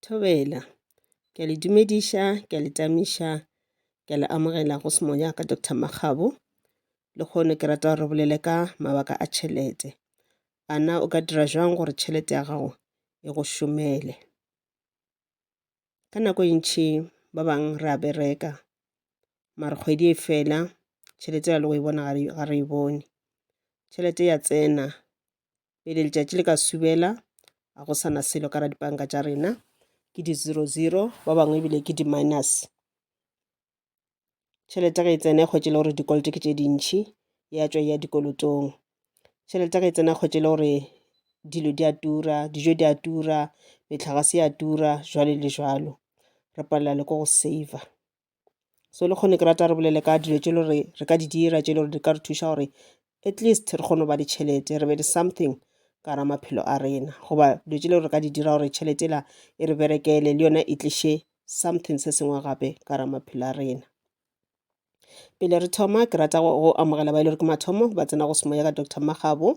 Thobela. Ke a le dumediša, ke a le tamiša, ke a le amogela go semoya ya ka Doctor Makgabo. Lehono ke rata re bolele ka mabaka a tšhelete. A na o ka dira jwang gore tšhelete ya gago e go šomele? Ka nako e ntšhi ba bang re a bereka, mare kgwedi e fela tšhelete ya le go e bona ga re e bone. Tšhelete ya tsena pele letšatši le ka subela a go sana selo ka ra dipanka tša rena ke di zero zero ba bangwe ebile ke di minus tšhelete ge e tsena e kgwetše le gore dikoloto ke tše dintšhi ya tšwa ya dikolotong tšhelete ge e tsena kgwetše le gore dilo di a tura dijo di a tura metlhagase ya tura jwale le jwalo re palela le ko go saver so le kgone ke rata re bolele ka dilo tše le gore re ka di dira tše le gore di ka re thuša gore at least re kgone go ba le tšhelete re be le something ka ra maphelo a rena goba dilo tše le gore re ka di dira gore tšhelete la e re berekele le yona e tliše something se sengwe gape ka ra maphelo a rena pele re thoma ke rata go amogela ba e le gore ke mathomo ba tsena go semoya ka dr magabo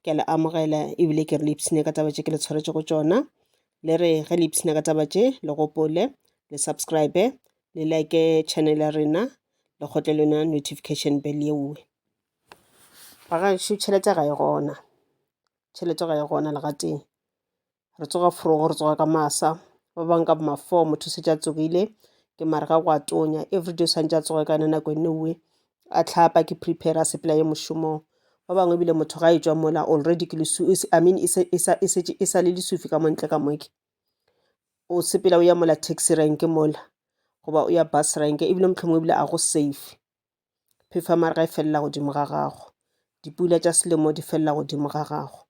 ke a le amogela ebile ke re le ipshine ka taba tše ke le tshwaretše go tšona le re ge le ipshina ka taba tše le gopole le subscribe le like channel ya rena le kgotle lena notification bell yeowe ba ga šo tšhelete ga e gona tšhelete ga e gona legateng re tsoga forogo re tsoga ka masa ba bang ka boma four motho se tša tsogile ke mare ga go a tonya everyday o swantse a tsoge ka yona nako e nngwe a tlhapa ke prepare a sepela ye mošomong ba bangwe ebile motho ga e tswa mola already ke lesu I mean e e sale lesufi ka montle ka moke o sepela o ya mola taxi rank mola goba o ya bus rank ebile mohlomongwe ebile a go safe phefa mare ga e felela godimo ga gago dipula tša selemo di felela godimo ga gago.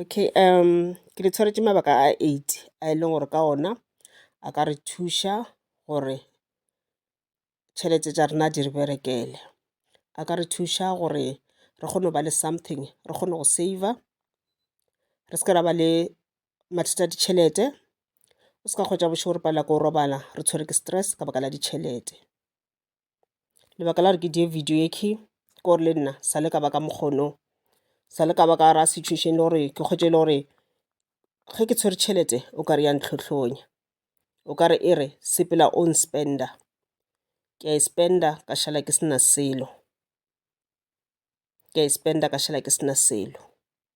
Okay ke le tshwaretše mabaka a eight a e leng gore ka ona a ka re thuša gore tšhelete tša rena di re berekele. A ka re thuša gore re kgone go ba le something, re kgone go saver, re se ke ra ba le mathata a ditšhelete. O se ka hwetša bošego re palelwa ke go robala re tshwerwe ke stress ka baka la ditšhelete. lebaka la gore ke diye video e key ke gore le nna sa le ka ba ka mokgono sa le ka ba ka ra situation le gore ke kgwetše e le gore ge ke tshwere tšhelete o ka re ya ntlhohlonya o ka re e re sepela o nspender ke a e spender ka šala ke sena selo ke a e spender ka šala ke sena selo.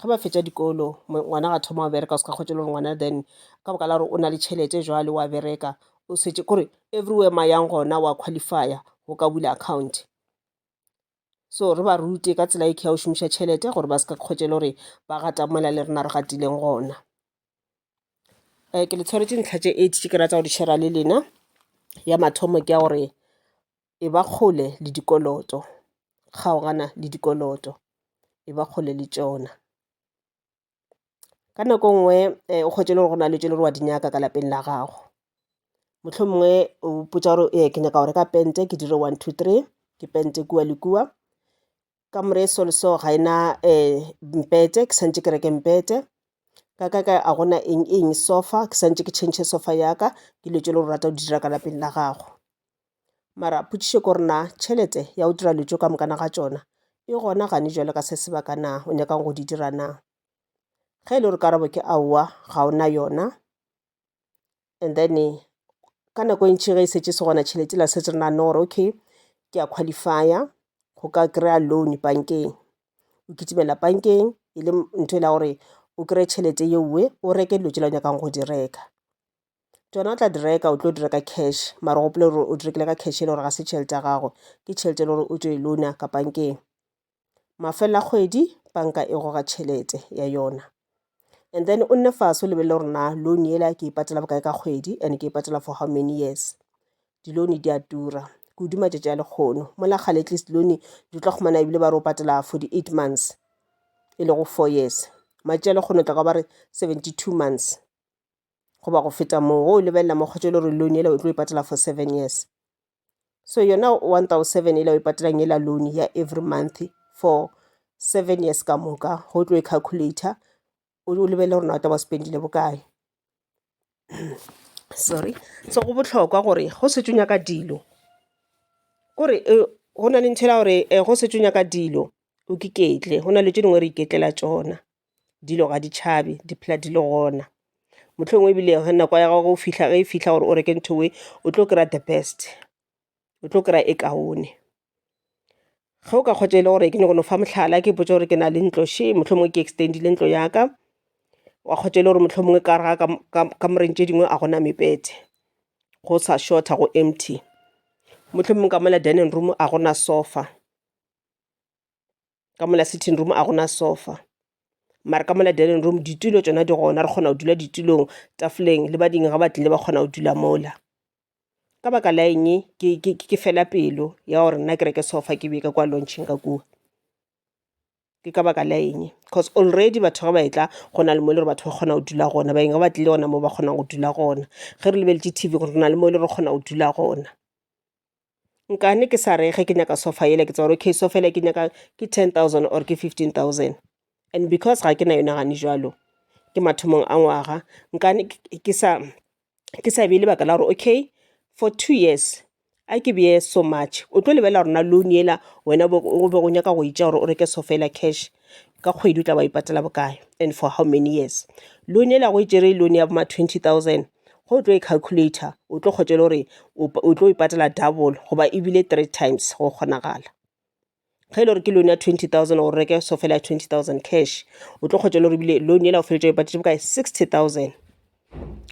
ge ba fetša dikolo ngwana ga thoma wa bereka o se ka kgwetša le gore ngwana then ka boka la gore o na le tšhelete jwale wa bereka o setse kore everywhere ma yang gona wa qualifya go ka bula account so re ba rute ka tsela e ke ya go šomiša tšhelete gore ba se ka kgwetša le gore ba gata mola le rena re gatileng gona um ke le tshwaretše ntlha tše eight tše ke rata go di share-a le lena ya mathomo ke ya gore e ba kgole le dikoloto kgaogana le dikoloto e ba kgole le tšona ka nako nngwe eh, o kgwetše le gore go na le tše le gore wa di nyaka ka lapeng la gago motlho mongwe o potsa gore ee ke nyaka go reka pente ke dire one two three ke pente kua le kua ka more so le so ga ena um mpete ke santse ke reke mpete ka ka ka a gona eng eng sofa ke santse ke change sofa ya ka ke dilo tše le go rata go di dira ka lapeng la gago mara potšišo ko re na tšhelete ya go dira dilo tšeo ka mokana ga tšona e gona gane jwale ka se sebaka na o nyakang go di dira na ge e le gore karabo ke aowa ga o na yona and then ka nako e ntši ge e šetše se gona tšhelete la setse re naganne gore okay ke a qualify-a go ka kry-a loan bankeng. O kitimela bankeng e le ntho e le ya gore o kry-e tšhelete ye nngwe o reke dilo tsela o nyakang go di reka. Tšona o tla di reka o tlo di reka cash mara o gopole gore o di rekile ka cash e le gore ga se tšhelete ya gago, ke tšhelete e le gore o tšo e loan-a ka bankeng. mafelo a kgwedi banka e goga tšhelete ya yona and then o nne fase o lebelele gore na loan yela ke e patela bokae ka kgwedi and ke e patela for how many years. Di-loan di a tura kudu matšatši a lekgono mola kgale at least loan di tla kgona ebile ba re o patela for di-eight months e lego four years matšatši a lekgono tla ka ba re seventy two months goba go feta moo o lebelela mokgotsa e le gore loan yela o tlo e patela for seven years. so yona one thousand seven yela o e patelang yela loan ya every month for seven years ka moka go tlo e calculator o lebelele gore na o tla ba spendile bokae sorry so go bohlokwa gore go setse o nyaka dilo kore go na le ntho ela gore go setse o nyaka dilo o iketle go na le tše dingwe re iketlela tšona. dilo ga di tšhabe di phela di le gona mohlomongwe ebile ge nako ya gago fihla ge e fihla gore o reke ntho e o tlo kry-a the best o tlo kry-a e kaone ge o ka kgotsa e le gore ke nyako no fa mohlala ke ipotsa gore ke na le ntlo she mohlomongwe ke extendile ntlo ya ka wa kgotsa e le gore mohlomongwe ka re ga ka moreng tše dingwe a gona mepete go sa shorta go empty mohlomongwe ka mola dining room a gona sofa ka mola sitting room a gona sofa mara ka mola dining room ditulo tšona di gona re kgona go dula ditulong tafoleng le bading ga ba tlile ba kgona go dula mola ka baka la eng ke fela pelo ya gore nna ke reke sofa ke beka kwa launching ka kua ke ka baka la eng because already batho ga ba e tla go na le mo e le gore batho ba kgona go dula gona baeng ga ba tlile gona mo ba kgonang go dula gona ge re lebeletše tv gore re na le mo e le re kgona go dula gona nkane ke sa re ge ke nyaka sofa yela ke tseba gore okay sofa yela ke e nyakang ke ten thousand or ke fifteen thousand and because ga ke na yona gane jwalo ke mathomong a ngwaga nkane ke sa ke sa bee lebaka la gore okay for two years a ke beye so much o tlo lebelela gore na loan yela wena o be o nyaka go e tšea gore o reke sofa yela cash ka kgwedi o tla be wa e patela bokae and for how many years. Loan yela ge o e tšere loan ya bo ma twenty thousand ge o tlo e calculator o tlo kgotša le gore o tlo e patela double goba ebile three times go kgonagala ge e le gore ke loan ya twenty thousand o reke so fela ya twenty thousand cash o tlo kgotša le gore ebile loan yela o feletša o e patetse bokae sixty thousand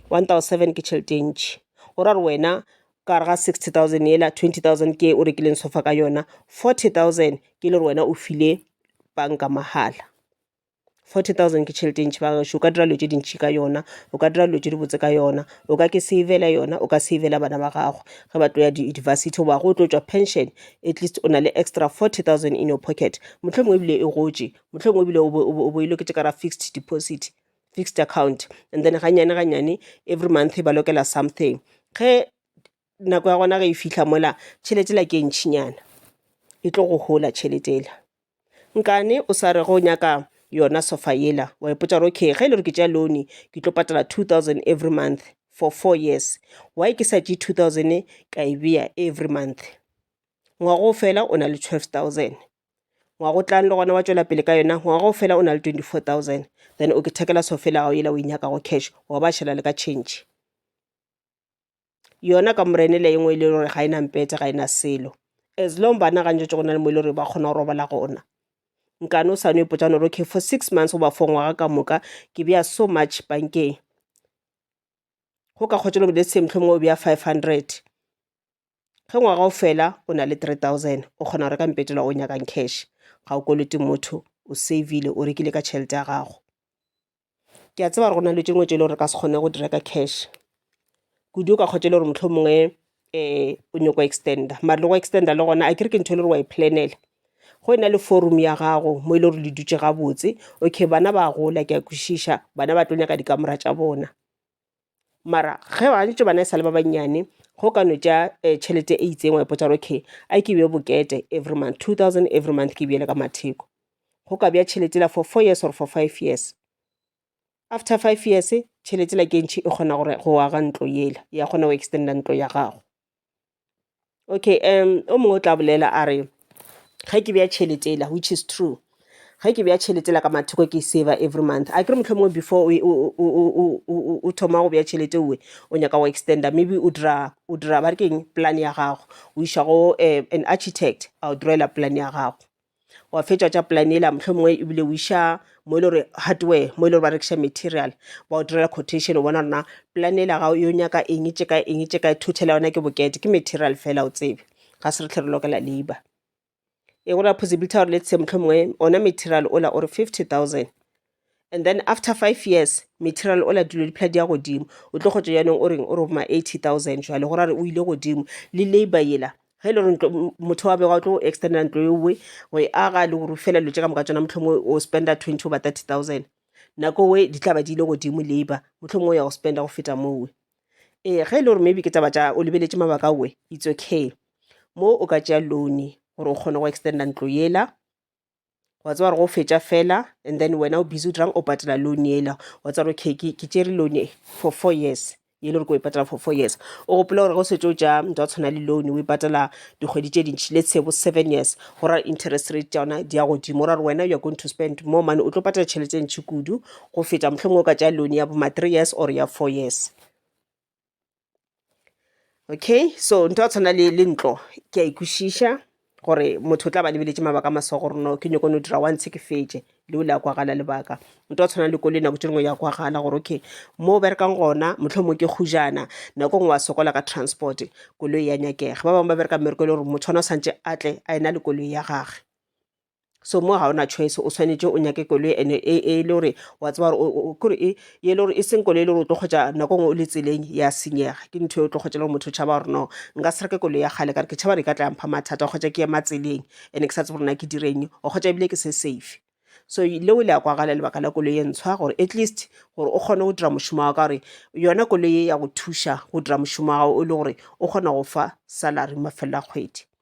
one thousand seven ke tšhelete e ntšhi go ra gore wena ka gare ga sixty thousand yela twenty thousand ke o rekileng sofa ka yona forty thousand ke le gore wena o file banka mahala Forty thousand ke tšhelete e ntši ba gašo. O ka dira dilo tše dintši ka yona, o ka dira dilo tše dibotse ka yona, o ka ke save-la yona, o ka save-la bana ba gago ge ba tlo ya di-university goba ge o tlo tšwa pension at least o na le extra forty thousand in your pocket. Mohlomongwe ebile e gotše, mohlomongwe ebile o bo o bo o bo e loketše ka gare ga fixed deposit, fixed account and then gannyane gannyane every month e ba lokela something. Ge. nako ya gona ge e fihla mola tšhelete ela ke e ntšhinyana e tlo go hola tšhelete ela. Nkane o sa re ge o nyaka yona sofa ela wa ipotša gore okay ge e le gore ke tšea loan ke tlo patala two thousand every month for four years why ke sa tšee two thousand ka e beya every month. Ngwaga o fela o na le twelve thousand ngwaga o tlang le gona wa tšwela pele ka yona ngwaga o fela o na le twenty four thousand then o ke ithekela sofa ya gago ela o e nyakago cash wa ba šala le ka change. yona ka morene le engwe e le gore ga e na mpete ga e na selo as long bana ga ntšwetse go na le mo e le gore ba kgona go robala gona nkane o sane ipotsa gore okay for six months goba for ngwaga ka moka ke beya so much bankeng go ka kgotsa le let's say mohlomongwe o beya five hundred ge ngwaga o fela o na le three thousand o kgona go reka mpetela o nyakang cash ga o koloti motho o savile o rekile ka tšhelete ya gago ke a tseba gore go na le tše ngwe tše e le gore re ka se kgone go di reka cash kudu o ka kgotša e le gore mohlho mongwe um o nyako extender mare le go extender le gona a ke re ke ntho e le gore wa e planela go e na le forum ya gago mo e le gore le dutše gabotse okay bana ba gola ke a kwešiša bana ba tlo nyaka dikamera tša bona. mara ge ba ntše bana e sale ba bannyane go ka no tša tšhelete e itseng wa ipotsa gore okay a ke bje bokete every month two thousand every month ke bjele ka matheko. Go ka bja tšhelete yela for four years or for five years, after five years tšhelete yela ke e ntši e kgona go aga ntlo yela ya kgona go extender ntlo ya gago. Okay o mongwe o tla bolela a re, ge ke beya tšhelete yela which is true, ge ke beya tšhelete yela ka mathoko ke e saver every month akere mohlomongwe before o thoma go beya tšhelete o o nyaka go extender maybe o dira o dira ba re ke eng plan ya gago o iša go an architect a go draw-ela plan ya gago. wa fetša tša plan ela mohlomongwe ebile o iša mo e le gore hardware mo e le gore ba rekiša material ba o direla quotation o bona rona plan ela ga yo nyaka eng tše ka eng tše ka thuthela yona ke bokete ke material fela o tsebe ga se re tlhe re lokela labour e go ra possibility ya gore letse mohlomongwe ona material ola o re 50 000 And then after five years, material ola dilo di phela di ya godimo. O tlo kgotša jaanong o reng o re boma 80,000 jwale go ra re o ile godimo le labour yela ge e le gore ntlo- m- motho wa bego o tlo go extendela ntlo eowe go e aga le go rufela dilo tše ka moka tšona mohlomongwe o spenda 20 goba 30,000 nako we di tla ba di ile godimo labour mohlomongwe o ya go spenda go feta moowe ee ge e le gore maybe ke taba tša o lebeletše mabaka owe it's okay mo o ka tšea loan gore o kgone go extenda ntlo yela wa tseba gore go fetša fela and then wena o busy o dirang o patela loan yela wa tseba gore okay ke ke tšere loan e for four years e le gore ko e patela for four years o gopola gore go setse o tša ntwa go tshwana le loan o e patela dikgwedi tše dintšhi let's say bo seven years go ra interest rate tša yona di ya godimo o ra gore wena you are going to spend more money o tlo patela tšhelete e ntšhi kudu go feta mohlomongwe o ka tša loan ya bo ma three years or ya four years okay so nto a tshwana le le ntlo ke a ikwešiša gore motho o tla ba lebeletše mabaka a maswa gore no ke nyoko no dira once ke fetše leo le a kwagala lebaka nto a tshwana le kole nako tše dingwe ya kwagala gore okay mo o berekang gona motlho mo ke kgujana nako ngwe wa sokola ka transport koloi ya nyakega ba bangwe ba bereka mmereko e le gore motho ona o santse a tle a ena le koloi ya gage so mo ga ona choice o tshwanetse o nyake koloi ene e, e le gore wa tseba gore kore e ye le gore e seng koloi e le gore o tlo kgwetsa nako ngwe o le tseleng ya senyega ke ntho e o tlo kgwetsa le gore motho o tšhaba gore no nka se reke koloi ya kgale kare ke tšhaba re ka tla mpha mathata kgwetsa ke ema tseleng ene ke sa tsebe gore na ke direng o kgwetsa ebile ke se safe so leo le ya kwagala lebaka la koloi e ntshwa gore at least gore o kgone go dira mošomo wa ka gore yona koloi e ya go thuša go dira mošomo wa gago o le gore o kgona go fa salary mafelelo a kgwedi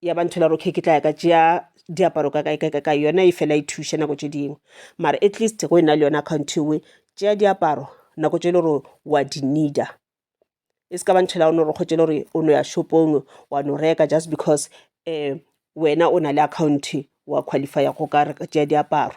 ya ba ntho la gore okay ke tla ya ka tšea diaparo ka kae kae ka kae yona e fela e thuša nako tše dingwe mara at least go e na le yona account ewe tšea diaparo nako tše e le gore wa di needa e se ka ba ntho la one gore kgotse le gore o no ya shopong wa no reka just because um wena o na le account wa qualifya go ka tšea diaparo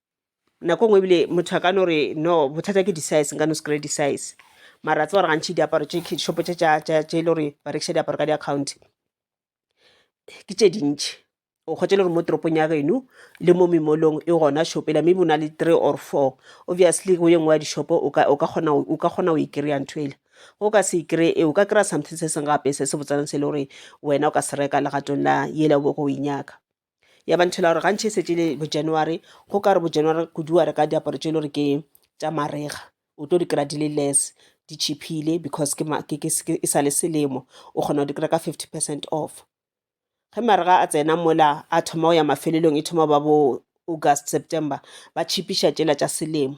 nako ngwe ebile motho a ka no re no bothata ke di-size nka no se kry-e di-size mara tse gore gantšhi diaparo tše shopo tše tše e le gore ba rekiša diaparo ka di-account ke tše dintšhi o kgotse le gore mo toropong ya geno le mo memolong e gona shopela maybe o na le three or four obviously go ye nngwe ya dishopo o ka kgona o e kry-a ntho ele go ka se kry e o ka kry-a something se seng gape se se botsanang se e le gore wena o ka se reka legatong la yela o bo go e nyaka ya ba nthela gore gantšhe e setse le bo january go ka re bo january kudu wa reka diaparo tse e le gore ke tša marega o tlo di kry-a di le less di cheaphile because ke ma- ke- ke- ke- e sa le selemo o kgona go di kry-a ka fifty percent off ge marega a tsena mola a thoma go ya mafelelong e thoma go ba bo august september ba cheapiša tšela tša selemo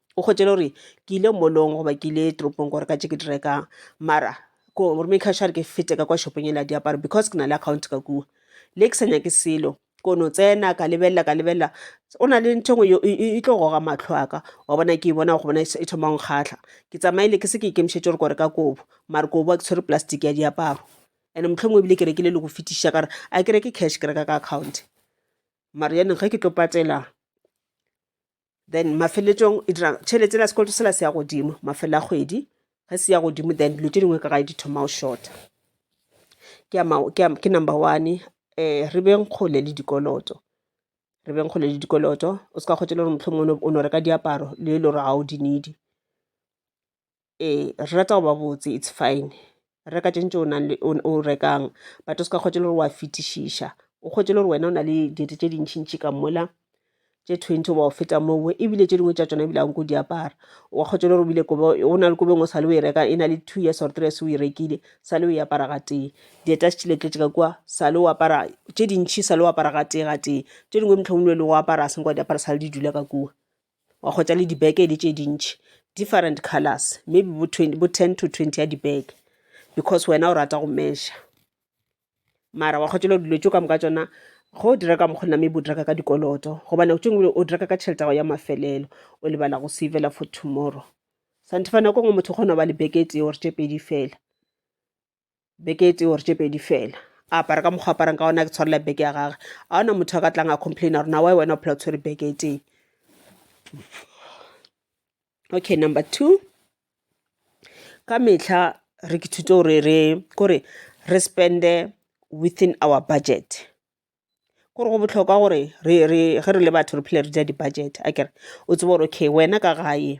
o kgwetše le gore ke ile mollong goba ke ile toropong gore ka tše ke di rekang mara ko rome cash re ke fete ka kwa shopong e la diaparo because ke na le account ka kua le ke sa nyake selo kono tsena ka lebelela ka lebelela o na le ntho engwe e tlo goga matlho aka wa bona ke bona go bona e thomang kgatlha ke tsamaile ke se ke ikemišetse gore kore ka kobo mare kobo a ke tshwere plastic ya diaparo and motlho mongwe ebile ke rekile le go fetiša kare a ke reke cash ke reka ka account mare yaneng ge ke tlo patela then mafeletšong e dira tšhelete ela sekoloto sela se ya godimo mafelo a kgwedi ge se ya godimo then dilo tše dingwe ka gae di thoma o shorta ke number one um re beng kgole le dikoloto re beng kgole le dikoloto o se ka kgotse le gore mohlomongwe o no reka diaparo le e le gore ga o di needy ee re rata go ba botse it's fine reka tše ntši o rekang but o se ka kgotša le gore wa fetišiša o kgotše le gore wena o na le dilo tše dintši ntši ka mola tše twenty goba go feta moo ebile tše dingwe tša tsona ebile anko di apara wa kgotša le gore ebile kobo o na le kobo engwe o sa le o e reka e na le two years or three years o e rekile sa le o e apara ga tee dieta se tšile tletše ka kua sa le o apara tše dintšhi sa le o apara ga tee ga tee tše dingwe motlhomongwe le go apara a seng kwa di apara sa le di dula ka kua wa kgwetša le dibeke e le tše dintši different colors maybe bo bo ten to twenty ya dibeke because wena o rata go measure mara wa kgwetša le dilo tše ka moka tšona ge o dira ka mokgwa nna maybe o dira ka ka dikoloto gobane tše ngwe o dira ka ka tšhelete ya ya mafelelo o lebala go savela for tomorrow santefa nako nngwe motho o kgona go ba le beke e tee or tše pedi fela beke e tee or tše pedi fela a apara ka mokgwa aparang ka ona ke tshwarela beke ya gage a ona motho a ka tlang a complaina gore na wa wena o phela o tshwere beke e tee okay number two ka metlha re ke thuto gore re kore re spende within our budget kore go botlhokwa gore re re ge re le batho re phele re dira di-budget a kere o tsebe gore okay wena ka gae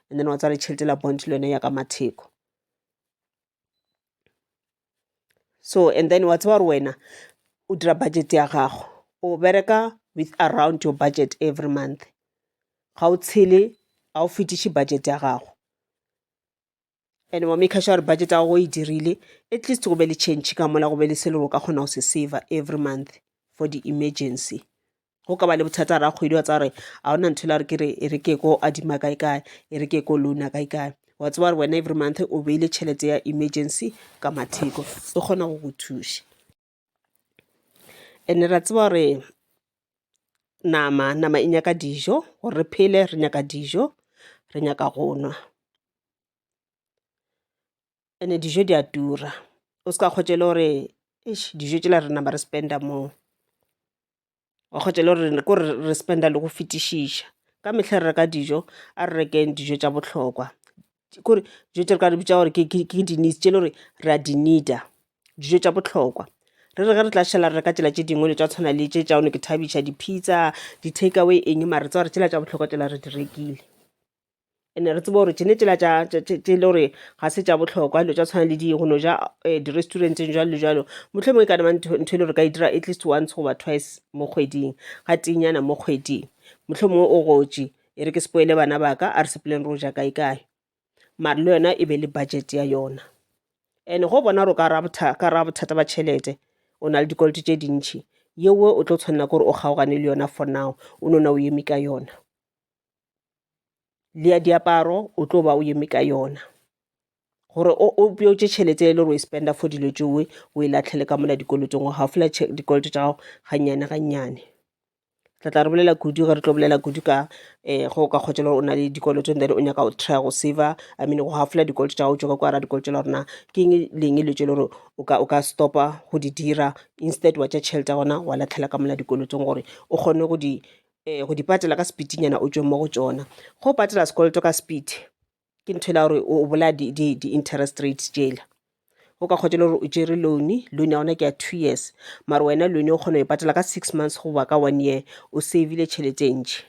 and then wa tswala tšhelete la bond le yone ya ka matheko so and then wa tseba gore wena o dira budget ya gago o bereka with around your budget every month ga o tshele ga o fetiše budget ya gago and wa make sure budget ya gago e dirile at least go be le change ka mola go be le se le go ka kgona go se saver every month for the emergency go ka ba le bothata ra kgwedi wa tsa gore a ona ntho la re ke re e re ke ko adima kae kae e re ke ko loana kae kae wa tseba gore wena every month o beile tšhelete ya emergency ka matheko e kgona go go thuša ene ra tseba gore nama nama e nyaka dijo gore re phele re nyaka dijo re nyaka go nwa ene dijo di a tura o se ka kgotse e le gore eish dijo tšela re nama re spend-a mo wa kgotse e le gore ko re spend-a le go fetišiša ka mehla re reka dijo a re rekeng dijo tša bohlokwa kore dijo tše re ka re bitša gore ke di-needs tše e le gore re a di need-a dijo tša bohlokwa. Re re ge re tla šala re reka tšela tše dingwe le tša tshwana le tše tša one ke thabisha di-pizza di-take away eng mare tsa gore tšela tša bohlokwa tšela re di rekile. ene re tseba gore tšene tšela tše le gore ga se tša bohlokwa dilo tša tshwana le di go no ja eh, di-restauranteng jalo le jalo mohlomongwe ka nama ntho e le gore ka e dira at least once goba twice mo kgweding ga tinyana mo kgweding mohlomongwe o gotše e re ke sepoele bana ba ka a re sepoleng ro ja kae kae mare le yona e be le budget ya yona and go bona gore ka ra bothata ba tšhelete o na le dikoloto tše dintšhi yewe o tlo tshwanela ke gore o kgaogane le yona for now o nona o eme ka yona le ya diaparo o tlo ba o eme ka yona gore o bjotse tšhelete e le gore o e spenda for dilo tšewe o e latlhele ka mola dikolotong wa gago fela dikoloto tša gago gannyane gannyane tla tla re bolela kudu ge re tlo bolela kudu ka um go ka kgotsa le gore o na le dikoloto then o nyaka go try go saver i mean go gafola dikoloto tša gago tšoka kwa ra dikoloto la gorena ke eng leng le tše le gore o ka stopa go di dira instead wa tša tšhelete ya gona wa latlhela ka mola dikolotong gore o kgone go di um go di patela ka sepitinyana o tšwe mo go tšona go patela sekoloto ka sepiti ke ntho e la gore o bolaya di-interest rates jela o ka kgotsa le gore o tšere loan loan ya gona ke ya two years mare wena loan o kgona go e patela ka six months goba ka one year o savile tšhelete e ntšhi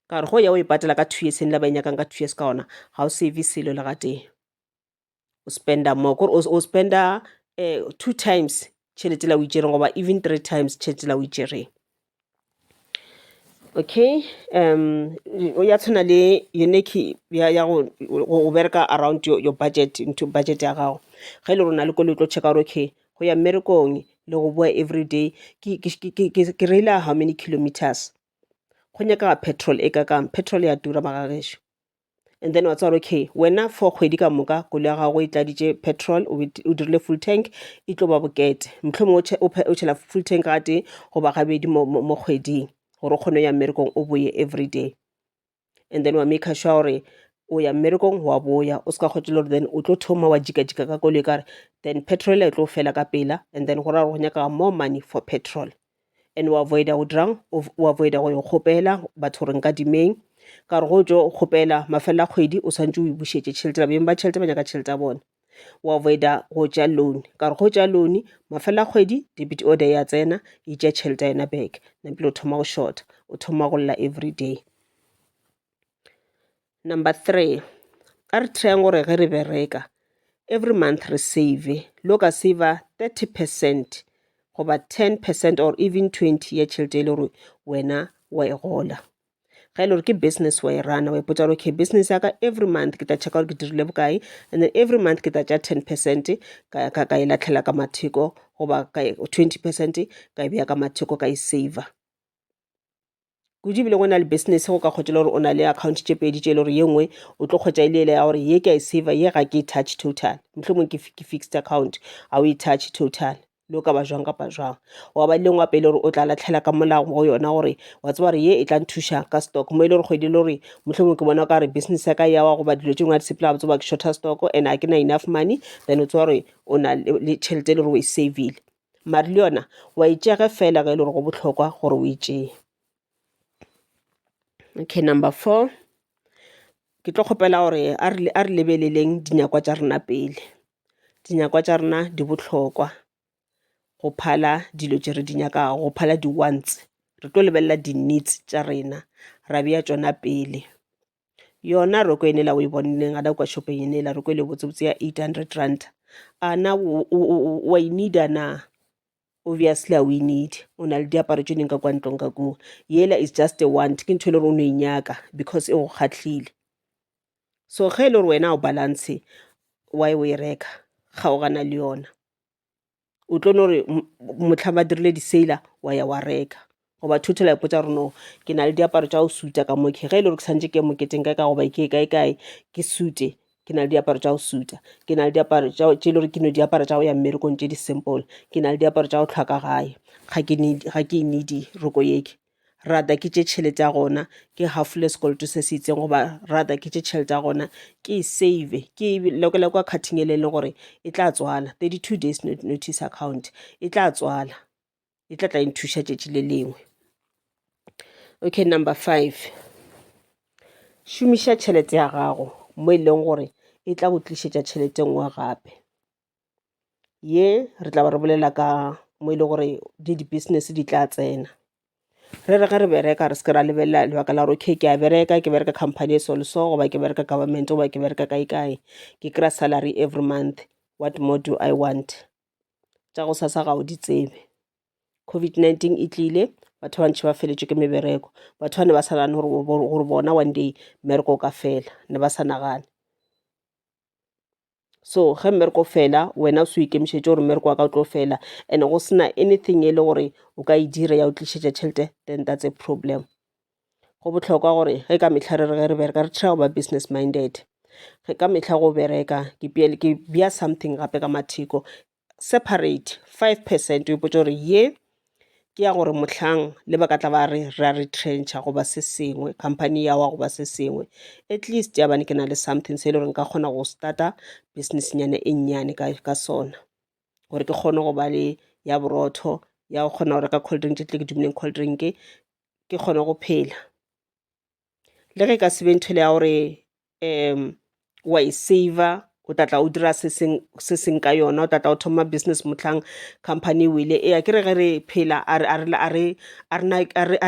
ka gore go ya o e patela ka two years e ne e la ba e nyakang ka two years ka gona ga o save selo le gatee o spenda more kore o spenda um two times tšhelete la o itšereng goba even three times tšhelete la o itšereng okay um ya tshwana le yone ke ya go bereka around your budget into budget ya gago ge e le gore na le kole o tlo checka gore okay go ya mmerekong le go boa every day ke reila how many kilometers go nyakega petrol e ka kang petrol ya tura magagešu and then wa tseba gore okay wena for kgwedi ka moka kolo ya gago e tladitše petrol o bet- o dirile full tank e tlo ba bokete mohlomong o che- o phe- o tšhela full tank ga tee goba gabedi mo mo- mo kgweding gore o kgone go ya mmerekong o boye every day and then wa maker sure gore o ya mmerekong wa boya o se ka kgotšela gore then o tlo thoma wa jikajika ka koloi kare then petrol e tlo fela ka pela and then go ra gore go nyaka more money for petrol and o avoida go dirang o avoida go yo kgopela batho gore nka dimeng ka gore go tso kgopela mafelelo a kgwedi o swantse o e bušetše tšhelete babeng ba tšhelete ba nyaka tšhelete ya bona o avoida go tša loan ka gore go tša loan mafelelo a kgwedi debit order ya tsena e tša tšhelete ya yona back nampile o thoma go shorta o thoma go lla every day Number three, a re tryeng gore ge re bereka every month re save, lo ka saver thirty percent goba ten percent or even twenty ya tšhelete e le gore wena wa e gola. Ga e le gore ke business wa e rana wa ipotsa gore okay business ya ka every month ke tla checka gore ke dirile bokae and then every month ke tla tša ten percent ka ka ka e latlhela ka matheko goba ka twenty percent ka e beya ka matheko ka e saver. kudu ebile go na le business go ka kgwetša le gore o na le account tše pedi tše e le gore ye nngwe o tlo kgwetša e le ele ya gore ye ke a e save ye ga ke e touch total mohlomong ke fixed account ga o e touch total le o ka ba jwang kapa jwang wa ba lengwe gape e le gore o tla latlhela ka molago go yona gore wa tseba gore ye e tla nthuša ka stock mo e le gore kgwedi e le gore mohlomong ke bona o ka re business ya ka yawa goba dilo tše ngwe a di sepela ga tseba ke shorter stock and ga ke na enough money then o tseba gore o na le tšhelete e le gore o e savile Mare le yona wa e tšea ge fela ge e le gore go bohlokwa gore o e tšee. Okay, number four. Ke tlo kgopela gore a re a re lebeleleng dinyakwa tša rena pele. Dinyakwa tša rena di bohlokwa go phala dilo tše re di nyakago, go phala di-wants. Re tlo lebelela di-needs tša rena, ra bea tšona pele. yona roko e nela o e bonneng a na kwa shopeng e nela roko e le botsebotse ya 800 rand a na wa e needa na obviously a o e need o na le diaparo tse dingwe ka kwa ntlong ka kua yela is just a want ke ntho e le gore o ne e nyaka because e go kgatlhile so ge e le gore wena o balance why o e reka kgaogana le yona o tlo no re motlha ba dirile di-sale wa ya wa reka goba thotho la ipotsa gore no ke na le diaparo tša go suta ka mo ke ge e le gore ke santse ke moketeng kae ka goba ke kae kae ke sute ke na le diaparo tša go suta ke na le diaparo tše e le gore ke no diaparo tša go ya mmerekong tše di-simple ke na le diaparo tša go tlhwa ka gae ga ke need ga ke e need roko yeke rather ke tše tšhelete ya gona ke hafole sekoloto se se itseng goba rather ke tše tšhelete ya gona ke e save ke lekole kwa cutting e leng gore e tla tswala thirty two days notice account e tla tswala e tla tla nthuša tšatši le lengwe okay number five šomiša tšhelete ya gago mo e leng gore e tla go tlišetša tšhelete nngwe gape ye re tla ba re bolela ka mo e le gore di di-business di tla tsena re re ge re bereka re se ke ra lebelela lebaka la gore okay ke a bereka ke bereka company e so le so goba ke bereka government goba ke bereka kae kae ke kry-a salary every month what more do I want tša go sasa ga o di tsebe COVID-19 e tlile batho ba bantši ba feletšwe ke mebereko batho ba ne ba sa nagane gore bona one day mmereko o ka fela ne ba sa nagane so ge mmereko o fela wena o se o ikemišetše gore mmereko wa ka o tlo fela and go sena anything e le gore o ka e dira ya o tlišetša tšhelete then that's a problem go bohlokwa gore ge ka mehla re re ge re bereka re try go ba business minded ge ka mehla go bereka ke bea something gape ka matheko separate five percent o ipotša gore ye ke ya gore mohlang le ba ka tla ba re re a retrencha goba se sengwe company ya wa goba se sengwe at least ya bane ke na le something se e le gore nka kgona go starta business nyana e nnyane ka ka sona gore ke kgone go ba le ya borotho ya go kgona go reka cold drink tše tle ke dumileng cold drink ke kgone go phela. le ge e ka se be ntho e le ya gore um wa e saver o tla tla o dira se sengwe ka yona, o tla tla o thoma business mohlang company e wele. Ee, akere ge re phela a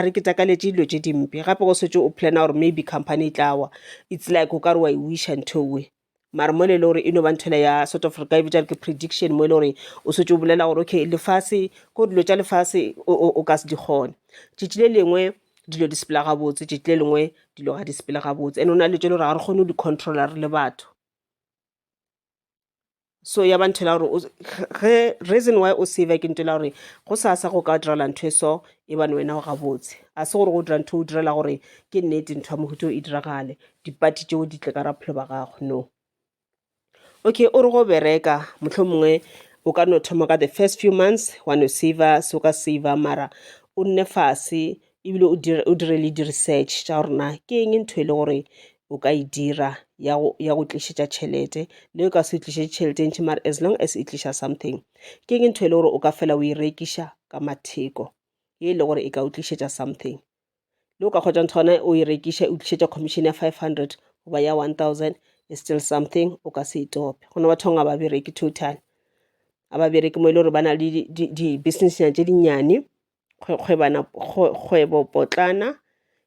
re ketakaletše dilo tše dimpe gape ge o šetše o planner gore maybe company e tla wa, it's like o ka re wa e wish-a ntho eo. mara mo e le gore e no ba nthwela ya sort of re ka e bitša re ke prediction mo e le gore o swetse o bolela gore okay lefase ko dilo tša lefase o ka se di kgone tšatši le lengwe dilo di sepela gabotse tšatši le lengwe dilo ga di sepele gabotse and go na le dilo tše e le gore ga re kgone go di controller re le batho. so ya ba nthela gore ge reason why o save ke ntela gore go sa sa go ka direla ntho e so e bane wena o gabotse a se gore go dira ntho o direla gore ke nnete ntho ya mohuto e diragale dipati tšeo di tle ka raphelo ba gago no okay o re go bereka motlho mongwe o ka no thoma ka the first few months wa no saver se o ka saver mara o nne fase ebile o dire o dire le di research tša gore na ke eng ntho e le gore o ka e dira ya go ya go tlišetša tšhelete le o ka se tlišetše tšhelete e ntši mare as long as e tliša something ke eng ntho e le gore o ka fela o e rekiša ka matheko ye e le gore e ka o tlišetša something le o ka kgotsa ntho gona o e rekiša o tlišetša commission ya five hundred goba ya one thousand is still something o ka se e tope go na bathong ga ba bereke total ga ba bereke mo e le gore ba na le di-businessnyana tše dinnyane kgwebopotlana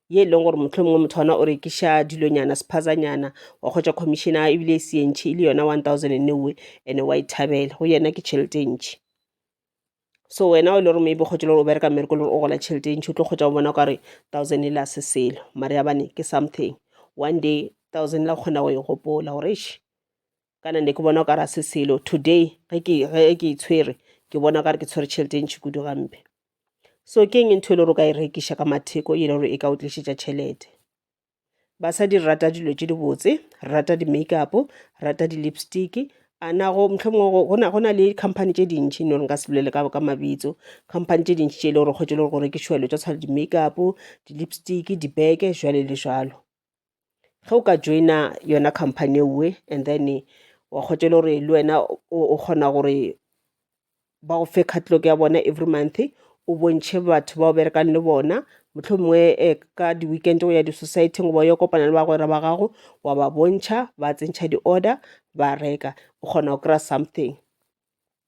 ye e leng gore motlho mongwe motho ona o rekiša dilonyana sephazanyana wa kgwetša commissiona ebile e se e ntšhi e le yona one thousand and newe and wa e thabela go yena ke tšhelete e ntšhi so wena o e le gore maybe kgwetša le gore o bereka mmereko le gore o gola tšhelete e ntšhi o tlo kgwetša go bona o kare thousand e la se selo mare ya bane ke something one day thousand la kgona go e gopola gore eish kana ne ke bona o ka ra se selo today ge ke ge ke itshwere ke bona o ka re ke tshwere tšhelete ntši kudu gampe so ke eng ntho e le gore o ka e rekiša ka matheko e le gore e ka o tlišetša tšhelete basadi re rata dilo tše dibotse re rata di-makeup re rata di-lipstick a nago mohlomongwe go na le company tše dintšhi no re nka se bolele ka ka mabitso company tše dintšhi tše e le gore kgwetse le gore go rekišwa dilo tša tshwana di-makeup di-lipstick dibeke jwale le jalo ge o ka joina yona company ewe and then wa kgotša e le gore le wena o kgona gore ba go fe catalogue ya bona every month o bontšhe batho ba o berekang le bona mohlomongwe um ka di-weekend o ya di-society goba o ya kopana le bagwera ba gago wa ba bontšha ba tsentšha di-order ba reka o kgona go kry-a something.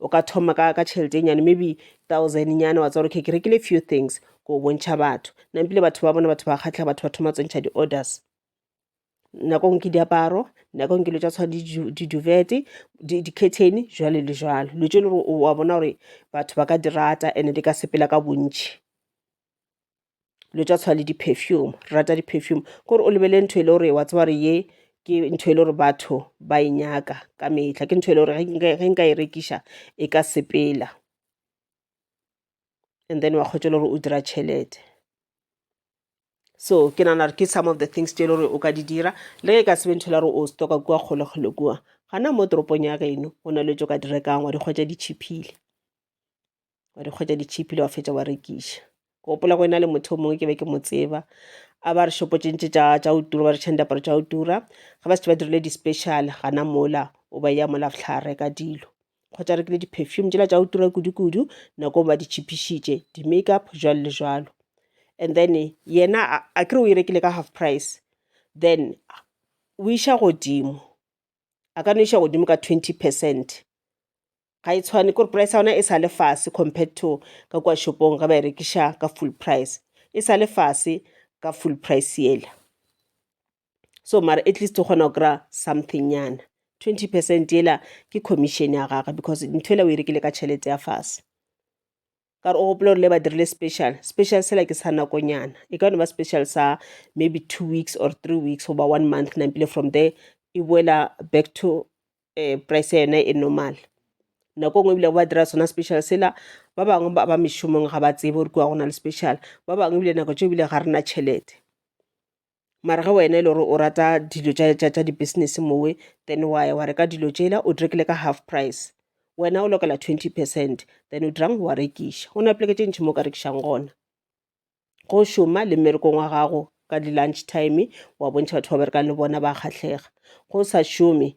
o ka thoma ka ka tšhelete e nyane maybe thousand nyana wa tswa gore ke ke rekile few things ko bontšha batho nampile batho ba bona batho ba kgatlha batho ba thoma tsontšha di-orders nako ngwe ke diaparo nako ngwe ke lo tsa tshwa di-duvete di-curtain jwale le jwalo lo tse e le gore wa bona gore batho ba ka di rata and-e di ka sepela ka bontšhi dilo tša tshwana le di-perfume, re rata di-perfume. Kore o lebelele ntho e le gore wa tseba gore ye ke ntho e le gore batho ba e nyaka ka mehla, ke ntho e le gore ge nka e rekiša e ka sepela and then wa kgotša le gore o dira tšhelete. So ke nagana gore ke some of the things tše e le gore o ka di dira le ge e ka se be ntho e le gore o stock-a kua kgole kgole kua, gana mo toropong ya geno go na le dilo tše o ka di rekang wa di hwetša di cheap-ile. wa di kgwetša ditšhipile wa fetša wa rekiša ke gopola go ena le motho o mongwe ke be ke mo tseba a ba re šopotšentše tša tša o tura ba re tšhang diaparo tša o tura ga ba se ba dirile di-special gana mola o ba ya mola ftlha reka dilo kgotsa rekile di-perfume tšela tša o tura kudu-kudu nako ba di tšhipišitše di-makeup jalo le jalo and then yena a kere o e rekile ka half price then o iša godimo a ka no iša godimo ka twenty percent ga e tshwane kore price ya ona e sa le fase compared to ka kua shopong ge ba e rekiša ka full price e sa le fase ka full price yela so mara at least o kgona go kry-a something nyana twenty percent yela ke commission ya gagwe because ntho ela o e rekile ka tšhelete ya fase ka gore o gopola gore le ba dirile special special sela ke sa nakonyana e ka no ba special sa maybe two weeks or three weeks goba one month nampile from there e boela back to um price ya yone e normal nako nngwe ebile ba dira sona special sela ba bangwe ba ba mešomong ga ba tsebe gore kua go na le special ba bangwe ebile nako tse ebile ga rena tšhelete mara ge wena e le gore o rata dilo tša di-business mowe then wa ya wa reka dilo tšela o di rekile ka half price wena o lokela twenty percent then o dirang wa rekiša go na poleke tše ntšhi mo o ka rekišang gona go šoma le mmerekong wa gago ka di-lunch time wa bontšha batho ba berekang le bona ba kgahlega go sa šome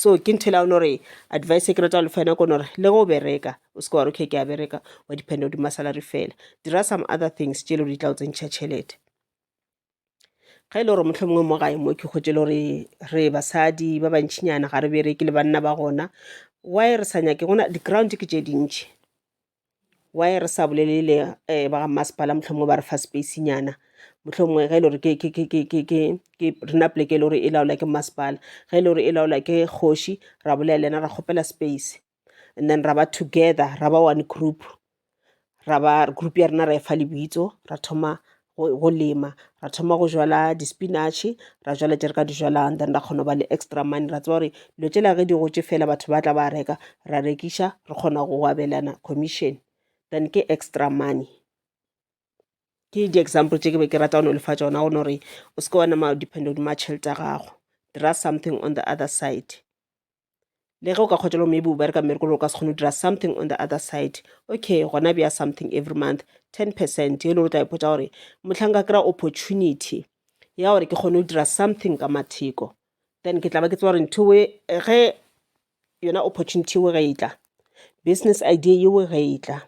so ke nthela o no re advice e ke rata go lefa yona kono gore le go bereka o seke wa re okay ke a bereka wa dependa godimo salary fela dira some other things tše e le gore di tla o tsentšha tšhelete ga e le gore motlho mongwe mo gae mo ke kgotse le gore re basadi ba bantšhinyana ga re bereke le banna ba gona why re sa nyake gona di-ground ke tše dintšhi why re sa bolelele um ba ga mmasepala mohlomongwe ba re fa space nyana mohlomongwe ge e le gore ke ke ke ke ke ke ke rena poleke e le gore e laola ke mmasepala ge e le gore e laola ke kgoši ra bolela le yena ra kgopela space and then ra ba together ra ba one group ra ba group ya rena ra e fa lebitso ra thoma go, go lema ra thoma go jala di-spinach ra jala tše re ka di jalang then ra kgona go ba le extra money ra tseba gore dilo tšela ge di gotše fela batho ba tla ba reka ra rekiša re kgona go abelana commission then ke extra money ke di-example tše ke be ke rata go no lefa tšona go no gore o seke wa nama depend hodima tšhelete ya gago dira something on the other side le ge o ka kgotša lo maybe o bereka mmereko le o ka se kgone go dira something on the other side okay gona bja something every month ten percent e le gore o tla ipotsa gore motlhang ka kry-a opportunity ya gore ke kgone go dira something ka matheko then ke tla ba ke tseba gore ntho e ge yona opportunity eo ge e tla business idea yeo ge e tla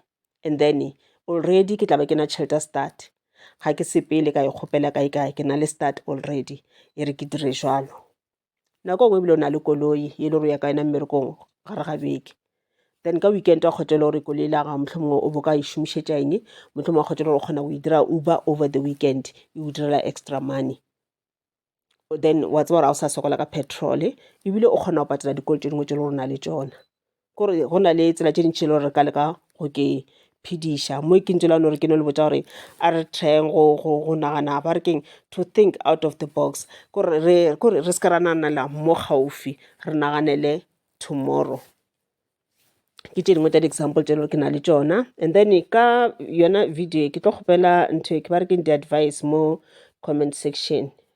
and then already ke tla ba ke na tšhelete start ga ke sepele ka e kgopela kae kae ke na le start already e re ke dire jalo nako nngwe ebile o na le koloi e le gore o ya ka yona mmerekong gare ga beke then ka weekend wa kgotha e le gore koloi la gago mohlomongwe o bo ka e šomišetša eng mohlomongwe wa kgotha e le gore o kgona go e dira uber over the weekend e o direla extra money then wa tseba gore ga o sa sokola ka petrol ebile o kgona go patela dikolo tše dingwe tše le gore o na le tšona. gore go na le tsela tše dintši le gore re ka leka go ke phediša mo ke ntše la no re ke no le botsa gore a re tryeng go go go nagana ba re keng to think out of the box kore re kore re se ke ra naganela mo gaufi re naganele tomorrow ke tše dingwe tša di-example tše e le gore ke na le tšona and then ka yona video ke tlo kgopela ntho e ke ba re keng di-advice mo comment section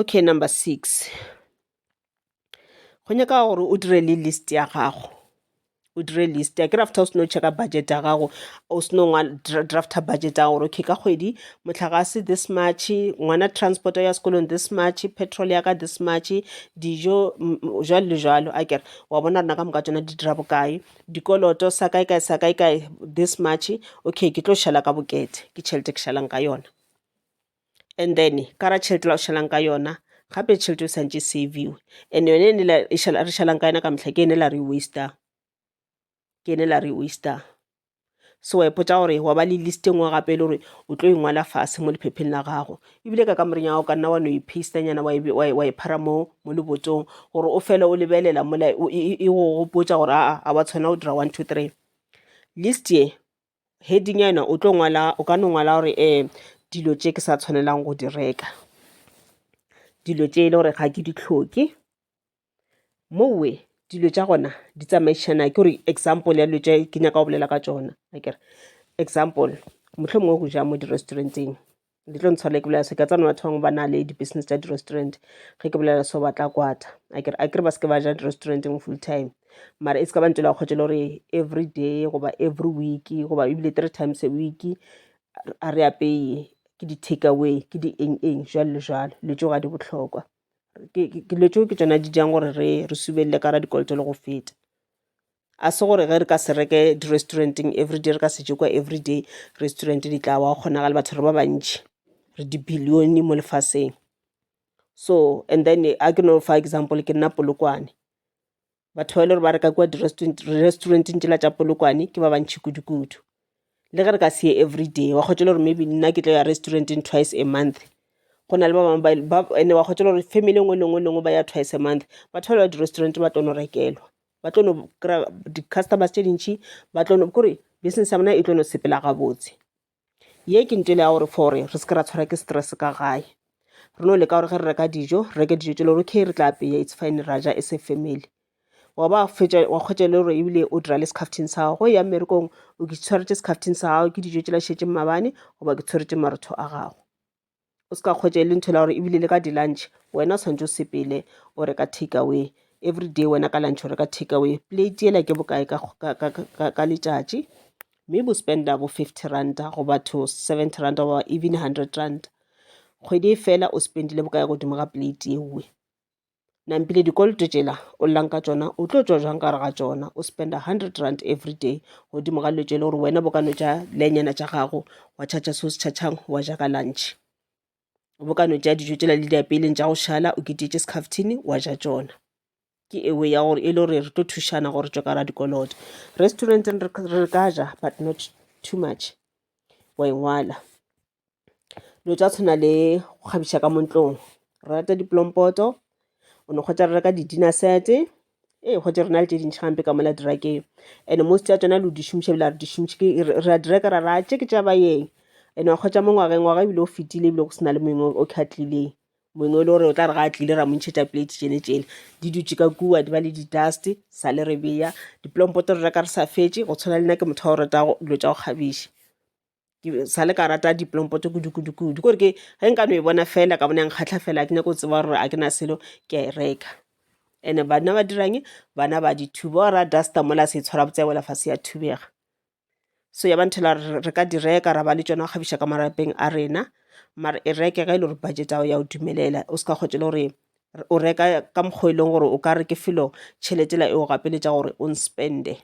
Okay number six, go nyaka gore o dire le list ya gago, o dire list ya kere after o seno check-a budget ya gago o seno drafter budget ya gago gore okay ka kgwedi mohlagase this much, ngwana transport ya sekolong this much, petrol ya ka this much, dijo jwalo le jwalo akere. Wa bona gore ka moka tšona di dira bokae, dikoloto sa kae kae sa kae kae this much, okay ke tlo šala ka bokete ke tšhelete e ke šalang ka yona. and then ka ra tšhelete la go šalang ka yona gape tšhelete e santše e save-iwe and yone e ne la re šalang ka yona ka mehla ke ene la re waste-ang ke ene la re waste-ang. So wa ipotsa gore wa ba le list e nngwe gape e le gore o tlo e ngwala fase mo lephepheng la gago ebile ka kamoreng ya gago ka nna wa no e paste nyana wa e phara mo mo lebotsong gore o fele o lebelela mola e go gopotsa gore aa a wa tshwana o dira one two three list ye heading ya yona o tlo ngwala o ka no ngwala gore um dilo tše ke sa tshwanelang go di reka dilo tše e le gore ga ke di tlhoke mowe dilo tša gona di tsamaišana ke gore example ya dilo tše ke nyaka go bolela ka tsona akere example mohlomongwe go ja mo di-restauranteng di tlo ntshwarele ke bolela so ke a tsana batho bangwe ba na le di-business tsa di-restaurant ge ke bolela so ba tla kwata a kere ba se ke ba ja di-restauranteng full time mara e se ka ba ntela kgotse le gore every day goba every week goba ebile three times a week a re apeye ke di-take away ke di eng eng jalo le jalo dilo tso ga di botlhokwa dilo tso ke tsona di jang gore re re subelele ka ra dikoloto le go feta A se gore ge re ka se reke di-restaurant-eng everyday, re ka se je kwa everyday, restaurant di tla wa, go kgonagala le batho re ba bantši, re di-billion mo lefaseng. So and then a ke no fa example, ke nna Polokwane, batho ba e le gore ba reka kwa di-restaurant-eng tšela tša Polokwane ke ba bantši kudukudu. Le ge re ka se ye everyday, wa kgotša le gore maybe nna ke tlo ya restaurant-eng twice a month, go na le ba bangwe ba, and-e wa kgotša le gore family e nngwe le e nngwe ba ya twice a month, batho bale ba di-restaurant ba tlo no rekelwa. ba tlo no kry-a di-customers tše dintšhi ba tlo no kore business ya bona e tlo no sepela gabotse ye ke ntele ya gore for gore re seke ra tshwara ke stress ka gae re no leka gore ge re reka dijo re reke dijo tse le gore okay re tla apeya it's fine ra ja as a family wa ba fetša wa kgwetša le gore ebile o dira le sekhafting sa gago go ya mmerekong o ke tshwaretše sekhafting sa gago ke dijo tšela šetše mmabane goba ke tshwaretše marotho a gago o se ka kgwetša e le ntho e la gore ebile le ka di-lunch wena o tshwanetse o sepele o reka take away every day wena ka lunch o reka take away plate ela ke bokae ka letšatši mme bo spenda bo fifty ranta go batho seventy ranta goba even hundred ranta kgwedi e fela o spendile bokae godimo ga plate ewe nampile dikoloto tšela o llang ka tšona o tlo tšwa jwang gare ga tšona o spenda hundred rand every day godimo ga dilo tšele gore wena bo ka no tša lenyana tša gago wa tšhatšha se o se tšhatšhang wa ja ka lunch bo ka no tša dijo tšela le diapeleng tša go šala o ketetše secaftini wa ja tšona ke ewe ya gore e le gore re tlo thušana gore tšwe ka ra dikoloto restauranteng re ka ja but not too much wa engwala dilo tša tshwana le go kgabiša ka mo ntlong. Re rata dipolompoto, o no hwetša re reka di-dinner set-e. Ee, gotee re na le tše dintši gampe ka mola drakeng and-e most ya tšona lo di šomiša ebile a re di šomiše ke re a di reka ra re atšhe ke tša baeng. And-e wa hwetša mo ngwageng, ngwaga ebile o fetile ebile go se na le mongwe o ka tlileng. Mongwe e le gore o tla re ga a tlile ra mo ntšhetša plate tšele tšele. Di dutše ka kua di ba le di-dust-e sale re beya. Dipolompoto re reka re sa fetše go tshwana le nna ke motho wa go rata dilo tša go kgabiša. ke sa le ka rata dipolompoto kudu-kudu-kudu kore ke ge nka no e bona fela ka bona nkgatlha fela ke nyako tseba gore a ke na selo ke a e reka ene bana ba dirang bana ba dithuba o ra duster mola se tshwara botse wela fase ya thubega so ya ba nthela re ka di reka ra ba le tšona go kgabiša ka marapeng a rena mare e reke ga e le gore budget ao ya o dumelela o se ka kgotse le gore o reka ka mokgwa e leng gore o ka re ke felo tšheletela e o gapeletša gore o nspende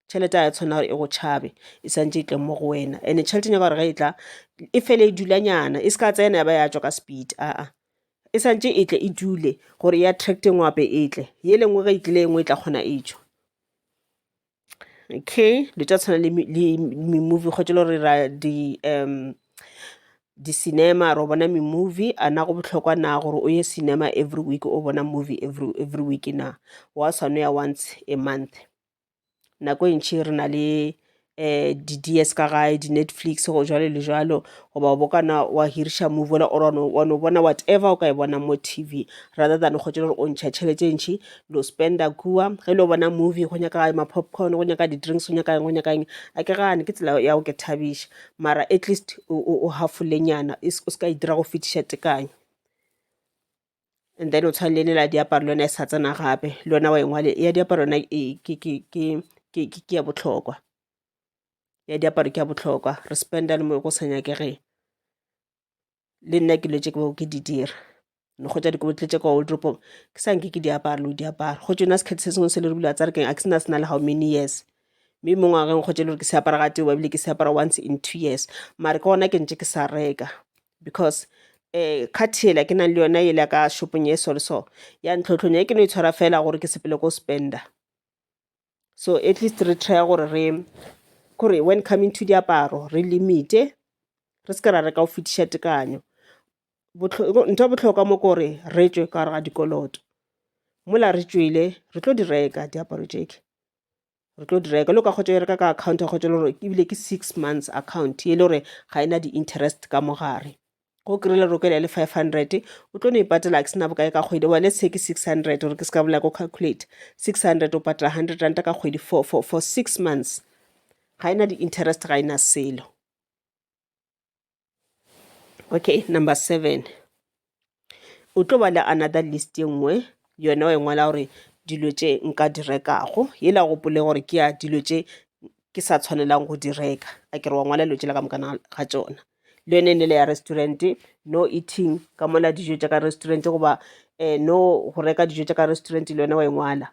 tšhelete a ya tshwanela gore e go tšhabe e santse e tle mo go wena and-e tšhelete nyaka gore ge e tla e fele e dulanyana e se ka tsena ya ba ya tswa ka speed aa e santse e tle e dule gore e attracte ngwe gape e tle ye le nngwe ge e tlile e nngwe e tla kgona e tswa okay dilo tša tshwana le mi-movie kgotse le gore ra di um di-cinema ro bona mi-movie a na go bohlokwa na gore o ye cinema every week o bona movie every week na wa swane ya once a month. nako e ntši re na le um di-dears ka gae, di-Netflix go jwalo le jwalo goba o bo kana wa hiriša movie ola o re wa no bona whatever o ka e bonang mo T_V rather than go tšwela gore o ntšha tšhelete e ntši lo spend-a kua. Ge le yo bona movie go nyaka ma-popcorn, go nyaka di-drinks, go nyaka eng, go nyaka eng, a ke gane ke tsela ya go ke thabiša mara atleast o hafolenyana o se ka e dira go fetiša tekanyo. and then o tshwana le lela diaparo le yona e sa tsena gape le yona wa engwale ya diaparo yona ke ya bohlokwa ya diaparo ke ya bohlokwa re spend-a le mo go sa nyakegeng le nna ke dilo tše ke bego ke di dira ne goja di kobo tletše kwa wardropong ke sa nke ke di apara lo di apara go tšona sekgethe se sengwe se le re bula tsa re keng a ke sena sena le how many years mme mo ngwageng kgotsa e le gore ke se apara ga tee ebile ke se apara once in two years mare ke gona ke ntše ke sa reka because um card yela ke nang le yona yela ka shopong ye so le so ya ntlhotlhonya e ke no e tshwara fela gore ke sepele ko spender so at least re try gore re kore when coming to diaparo re limite re se ke ra reka go fetiša tekanyo ntho botlhokwa mo kore re tswe ka gare ga dikoloto mola re tswele re tlo di reka diaparo jeke re tlo dira ka lo ka kgotsa bereka ka account ya kgotsa le gore ebile ke six months account e le gore ga e na di-interest ka mogare go kry-ile roko ele ya le five hundred o tlo no e patela ke sena bokae ka kgwedi bone se ke six hundred gore ke se ka bola ko calculate six hundred o patela hundred ranta ka kgwedi for, for, for six months ga e na di-interest ga e na selo okay number seven o tlo ba le another list ye nngwe yona wa e ngwala gore dilo tše nka di rekago yela gopole gore ke ya dilo tše ke sa tshwanelang go di reka a ke re wa ngwala dilo tšela ka mokana ga tsona le yone e nele ya restaurant no eating ka mola dijo tša ka restaurant goba um no go reka dijo tša ka restaurant le yone wa e ngwala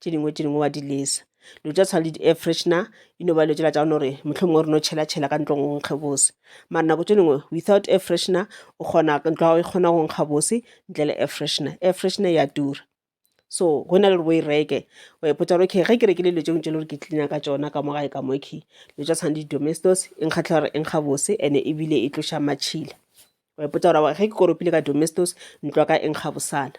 tše dingwe tše dingwe wa di lesa dilo tša tshwana le di-air freshener e no ba dilo tsela tša gona gore mohlomong o re no tšhela tšhela ka ntlong go nkge bose mara nako tše dingwe without air freshener o kgona ntlo ya gago e kgona go nkga bose ntle le air freshener air freshener ya tura so go na le gore o e reke wa ipotsa gore okay ge ke rekile dilo tsengwe tse le gore ke cleana ka tsona ka mo gae ka mo okay dilo tša tshwana le di-domestos e nkgatlha gore e nkga bose and-e ebile e tloša matšhila wa ipotsa gore ge ke koropile ka domestos ntlo ya ka e nkga bosana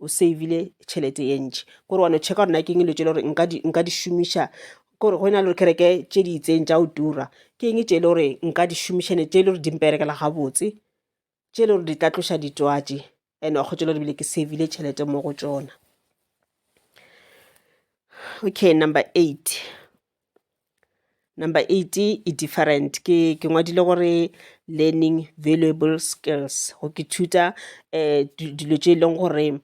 o savile tšhelete ye ntši kore wa no checka gore na ke eng dilo tšele gore nka di šomiša kore go e na le gore kereke tše di itseng tša o tura ke eng tše e le gore nka di šomišane tše e le gore di mperekela gabotse tše e le gore di tla tloša ditwatši and wa kgotšela gore bile ke savile tšhelete mo go tšona okay number eight Number eight e different. Ke, ke ngwadile gore learning valuable skills, go ke thuta um dilo tše e leng gore um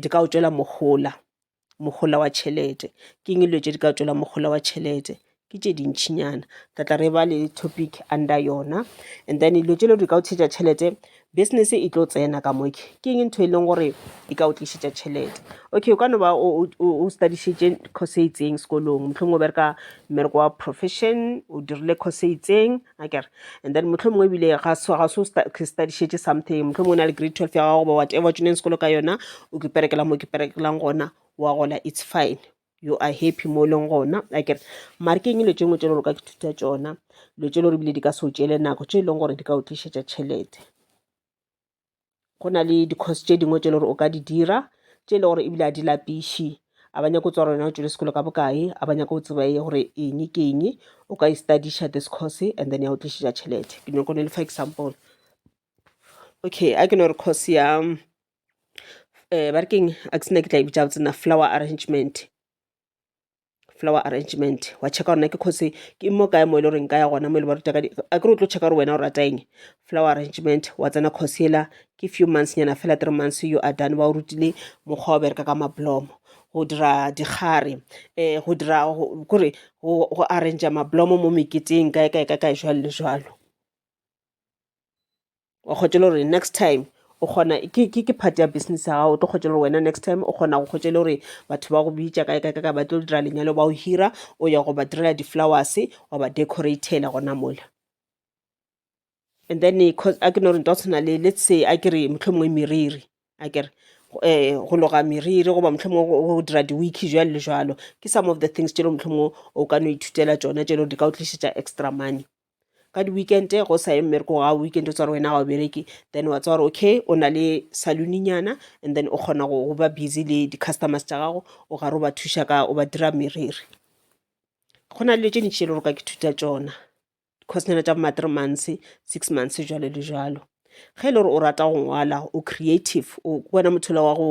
di ka o tšwela mohola, mohola wa tšhelete. Ke eng dilo tše di ka o tšwela mohola wa tšhelete? Ke tše dintšhinyana, re tla re ba le topic under yona. And then dilo tše e lego gore di ka o tšhetša tšhelete, Business e tlo tsena ka mo ke ke eng ntho e leng gore e ka o tlišetša tšhelete. Okay o ka no ba o study-šitše course e itseng sekolong, mohlomongwe o bereka mmereko wa profession, o dirile course e itseng akere. And then mohlomongwe ebile ga se ga se o study-šitše something, mohlomongwe o na le grade twelve ya gago goba whatever o tseneng sekolo ka yona, o kiperekela mo o kiperekelang gona wa gola it's fine. you are happy mo e leng gona a kere mare ke eng dilo tše ngwe tše le gore ka ke thuta tšona dilo tše le gore ebile di ka se o tšele nako tše e leng gore di ka o tlišetša tšhelete go na le di-course tše dingwe tše le gore o ka di dira tše e le gore ebile a di lapiše a ba nyako o tswa gore wena o tšwele sekolo ka bokae a ba nyako o tseba ye gore eng ke eng o ka e studiša this course and then ya o tlišetša tšhelete ke nyako ne le fa example okay a ke no re course ya um ba re keng a ke sena ke tla e bitsa gabotse nna flower arrangement flower arrangement wa checka gore na ke kgose ke mo kae mo e le goreng ka ya gona mo e le ba ruta ka a kere o tlo checka gore wena o rata eng flower arrangement wa tsena course ela ke few months nyana fela three months you are done ba o rutile mokgwa o bereka ka mablomo go dira dikgare um go dira kore go arrangea mablomo mo meketeng kae kae ka kae jalo le jalo wa kgotša le gore next time o kgona ke ke ke part ya business ya gago o tlo kgotša gore wena next time o kgona go kgotša le gore batho ba go bitša kae kae kae ba tlo dira lenyalo ba o hira o ya go ba direla di-flowers wa ba decoratela gona mola and then eh, a ke no gore nto tshwana le let's say a ke re motlho mongwe meriri a kere um eh, go loga meriri goba motlho mongwe go dira di-weeki jalo le jalo ke some of the things tšelo motlho mongwe o ka no ithutela tsona tšelo di ka o tlišetša extra money ka di-weekend go sa ye mmereko ga weekend o tsware wena ga o bereke then wa tsware okay o na le saloninyana and then o kgona go ba busy le di-customers tša gago o gare o ba thuša ka o ba dira meriri go na le dilo tše ntši e le gore ka ke thuta tšona course nyana tša bo ma-three months six months jalo le jalo ge e le gore o rata go ngwala o creative o wena mothola wa go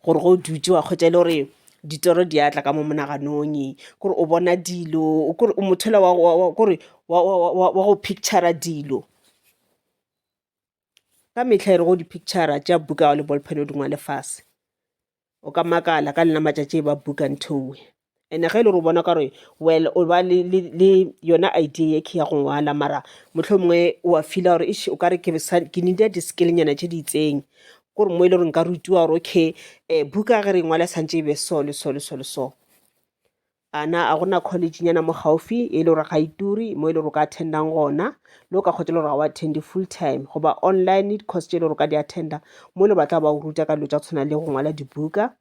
gore go dutse wa kgwetsa e le gore ditoro di atla ka mo monaganong kore o bona dilo kore o mothola kore wa go pictura dilo ka mehla e re go di picture tša buka le ballpen o di ngwale fase o ka makala ka lena matšatši ba buka nthowe ene ge e le gore o bona ka gore well o ba le, le, le yona idea ye ke ya go ngwala mara motlho mongwe o a feela gore ish o ka re ke sa- ke nida di-skillnyana tše di itseng kore mo e le gore nka rutiwa gore okay um buka ge re ngwala santše e be so le so le so le so A na a go na kholejhinyana mo gaufi e le gore ga e turi mo e le gore o ka attendang gona le o ka kgotsa e le gore ga o attende full time goba online le di-course tše e le gore o ka di attenda mo e le ba tla ba o ruta ka dilo tša go tshwana le go ngwala dibuka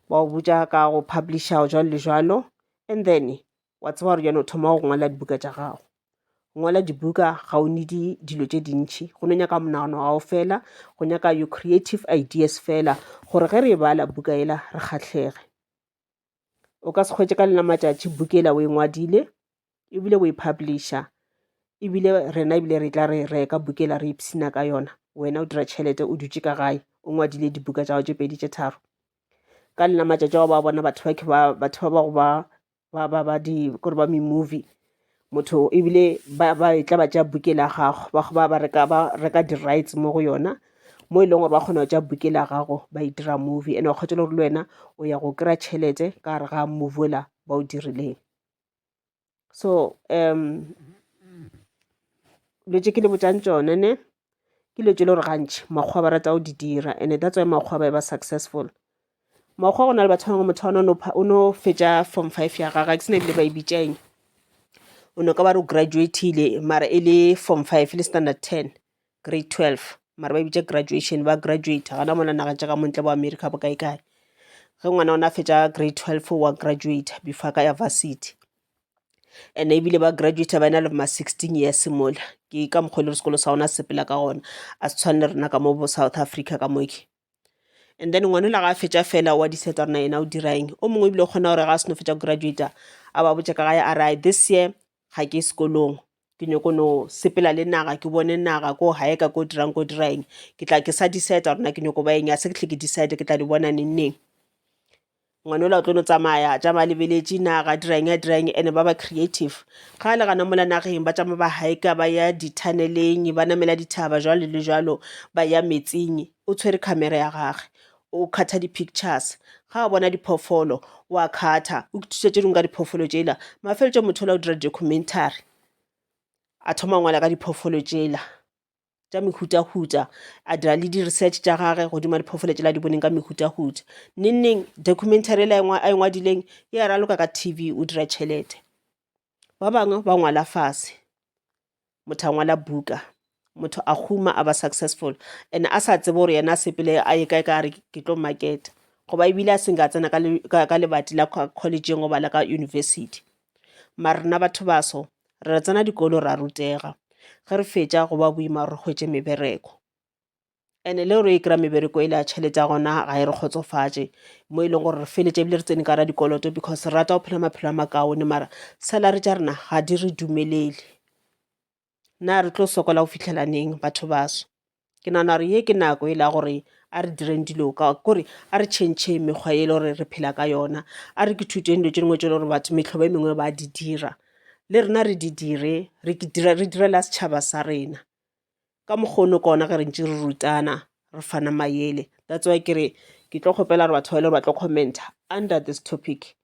ba o botsa ka go publisha o jalo le jalo and then wa tseba gore jana o thoma go ngwala dibuka tša gago ngwala dibuka ga o nedi dilo tše dintšhi go no nyaka monagano gago fela go nyaka your creative ideas fela gore ge re e bala buka ela re kgatlhege o ka se kgwetše ka lena matšatši book e la o e ngwadile ebile o e publisher ebile rena ebile re tla re reka book e la re ipshina ka yona wena o dira tšhelete o dutše ka gae o ngwadile dibuka tša go tše pedi tše tharo ka lena matšatši ao ba bona batho ba batho ba ba go ba ba ba ba di kore ba me-movie motho ebile ba ba e tla ba tša buke la gago ba goba ba reka ba reka di-rights mo go yona mo e leng gore ba kgona go tša buke la gago ba e dira movie ene wa kgotela gore le wena o ya go kry-a tšhelete ka gare ga movie ola ba o dirileng so um dilo tše ke le botšang tšone ne ke dilo tše le gore gantši makgowa ba rata go di dira and that's why makgowa ba e ba successful mokgwa go na le batho bangwe motho ona o no fetša form five ya gage ke sena ebile ba e bitšaeng o no ka ba re o graduatile mara e le form five le standard ten grade twelve mara ba e bitša graduation ba graduate gana mona nageng tša ka montle bo america bo kae kae ge ngwana ona a fetša grade twelve wa graduate before ka ya varsity and ebile ba graduate ba na le ma sixteen years mola ke ka mokgwa e le sekolo sa ona sepela ka gona a se tshwane le rena ka mo bo south africa ka moke and then ngwanela ga a fetša fela wa diseta rena yena o diraeng o mongwe ebile o kgona gore ga a seno fetša graduata a ba botša ka gae a rae this year ga ke sekolong ke nyoko no sepela le naga ke bone naga ko gae ka ko dirang ko diraeng ke tla ke sa diseta rena ke nyoko ba eng a se ke tle ke disete ke tla di bona neng neng Ngwana ola o tlo no tsamaya, tša ba lebeletše na ga dirang ya dirang ene ba ba creative. Ga a le gana mola nageng, ba tšama ba hiker ba ya dithaneleng, ba namela dithaba jwalo le jwalo, ba ya metsing. O tshwere khamera ya gage, o khatha di pictures. Ga a bona diphoofolo, o a khatha, o ithuta tše dingwe ka diphoofolo tšela. Mafeletšong motho ola o dira di-documentary, a thoma go ngwala ka diphoofolo tšela. tša mehutahuta a dira le di-research tša gage godimo diphoofolo tšela di boneng ka mehutahuta nengneng documentary e le a e ngwadileng e a raloka ka tv o dira tšhelete ba bangwe ba ngwala fase motho a ngwala buka motho a huma a ba successful and a sa tsebe gore yena a sepele a ye kae ka re ke tlo marketa goba ebile a seng ka tsena ka lebati la collegeng goba la ka university Mara rena batho baso re tsena dikolo ra rutega ge re fetša go ba boima gore re hwetše mebereko ene le gore e kry-a mebereko e le ya tšhelete ya gona ga e re kgotsofatše mo e leng gore re feletše ebile re tsene ka ra dikoloto because re rata go phela maphelo a makaone mara salary tša rena ga di re dumelele na re tlo sokola go fihlela neng batho baso ke nagana gore ye ke nako e la gore a re direng dilo ka kore a re tšhentšhe mekgwa e le gore re phela ka yona a re ke thuteng dilo tše dingwe tše le gore batho metlhobo e mengwe ba di dira le rena re di dire re dira re direla setšhaba sa rena ka mokgono kona ge re ntse re rutana re fana mayele that's why kere ke tlo kgopela gore batho ba e le gore ba tlo commenta under this topic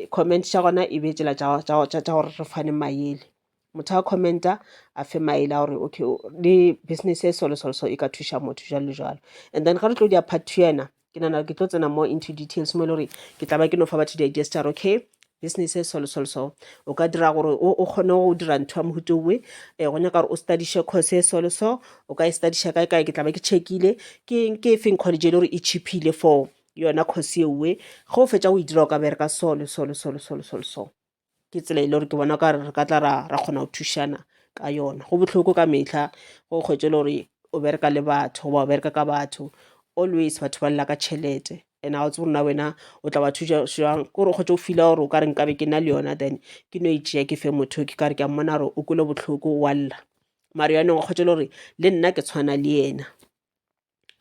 comment tša gona e be e tšela tša gore re fane maele motho a commenta a fe maele a gore okay le business e solo solo so e ka thuša motho jalo le jalo and then ga re tlo dia part two ena ke nana ke tlo tsena more into details mo e le gore ke tla ba ke no fa batho di-ideas tša okay business e solo solo so o ka dira gore o kgone go dira ntho ya mohuto owe um eh, go nyaka gore o studiše course e solo so o ka e studiša kae kae ke tla ba ke checkile ke e feng college e le gore e cheapile for yona kgosi ewe ge o fetša go e dira o ka bereka so le so le so le so le so le so ke tsela e le gore ke bona ka re ka tla ra ra kgona go thušana ka yona go bohloko ka metlha go kgwetše le gore o bereka le batho goba o bereka ka batho always batho ba lela ka tšhelete and ga o tsebo rona wena o tla ba thuša jang ke gore o kgwetše o fila gore o ka re nkabe ke na le yona then ke no e tšea ke fe motho ke kare ke a mmona gore o kwele bohloko wa lla mare yanong o kgwetše le gore le nna ke tshwana le yena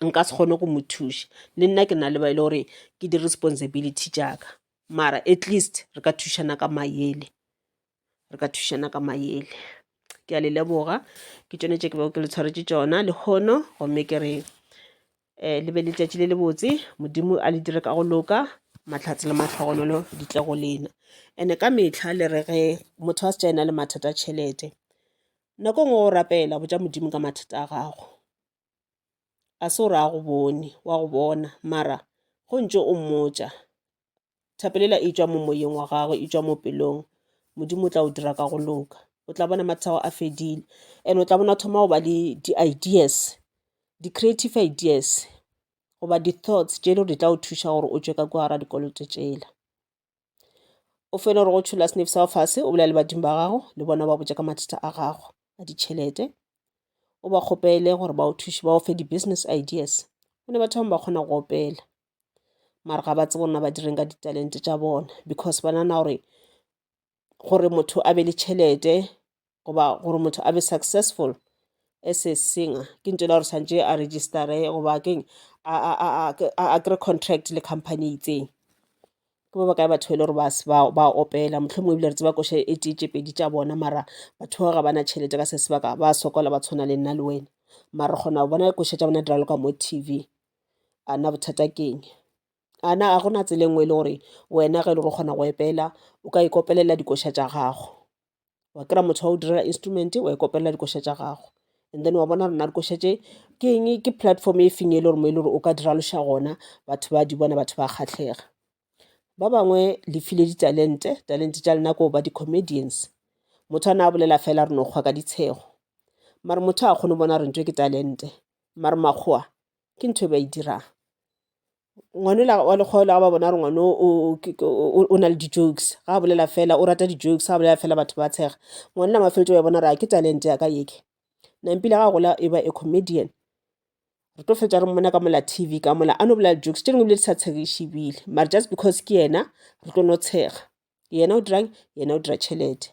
nka se kgone go mo thuša le nna ke na le ba e le gore ke di responsibility tša ka mara at least re ka thušana ka mayele re ka thušana ka mayele. Ke a le leboga ke tšone tše ke bego ke le tshwaretše tšona lehono gomme ke re le be le letšatši le lebotse Modimo a le dire ka go loka mahlatse le mahlogonolo di tle go lena. And-e ka mehla le re ge motho a se tša ena le mathata a tšhelete nako e nngwe wa go rapela botša Modimo ka mathata a gago. a se o re a go bone wa go bona mara go ntse o mmotša thapelela e tšwa mo moyeng wa gagwe e tšwa mo pelong modimo o tla o dira ka go loka o tla bona mathata ao a fedile and o tla bona thoma go ba le di-ideas di-creative ideas goba di-thoughts tše e le gore di tla o thuša gore o tšwe ka kwa gara dikoloto tšela. o fela gore go tšhola senefi sa go fase o bolela le badimo ba gago le bona ba botša ka mathata a gago a ditšhelete o ba kgopele gore ba o thuše ba go fe di-business ideas go ne batho bangwe ba kgona go opela mare ga ba tsebe gore na ba direng ka ditalente tša bona because ba nana gore gore motho a be le tšhelete goba gore motho a be successful as a singer ke ntho ela gore tshwanetse a registare goba keng a kry contract le company e itseng ke ba bakae batho ba e le gore ba opela mohlomongwe ebile re tseba ko e tee tše pedi tša bona mara batho bao ga ba na tšhelete ka se sebaka ba sokola ba tshwana le nna le wena mara re kgona go bona koša tša bona di raloka mo T_V a na bothata keng. a na a gona tsela e nngwe e le gore wena ge e le gore o kgona go epela o ka ikopelela dikoša tša gago wa kry-a motho wa go direla instrument wa ikopelela dikoša tša gago and then wa bona gore na dikoša tše ke eng ke platform e feng e le gore mo e le gore o ka dira loša gona batho ba di bona batho ba kgatlhega ba bangwe le file ditalente talente tša lena ko ba di-comedians motho a na a bolela fela re no kgwa ka ditshego mare motho a kgone go bona gore ntho ke talente mare makgowa ke ntho e ba e dirang ngwane ola wa lekgolo ga ba bona gore ngwane o na le di-jokes ga a bolela fela o rata di-jokes ga a bolela fela batho ba tshega ngwane la mafeletso ba bona gore ke talent ya ka yeke nampile ga a gola e ba a comedian re tlo fetsa re mmona ka mola tv ka mola a no bolela di-jokes tše dingwe ebile di sa tshegiše ebile mare just because ke yena re tlo no tshega yena o dirang yena o dira tšhelete.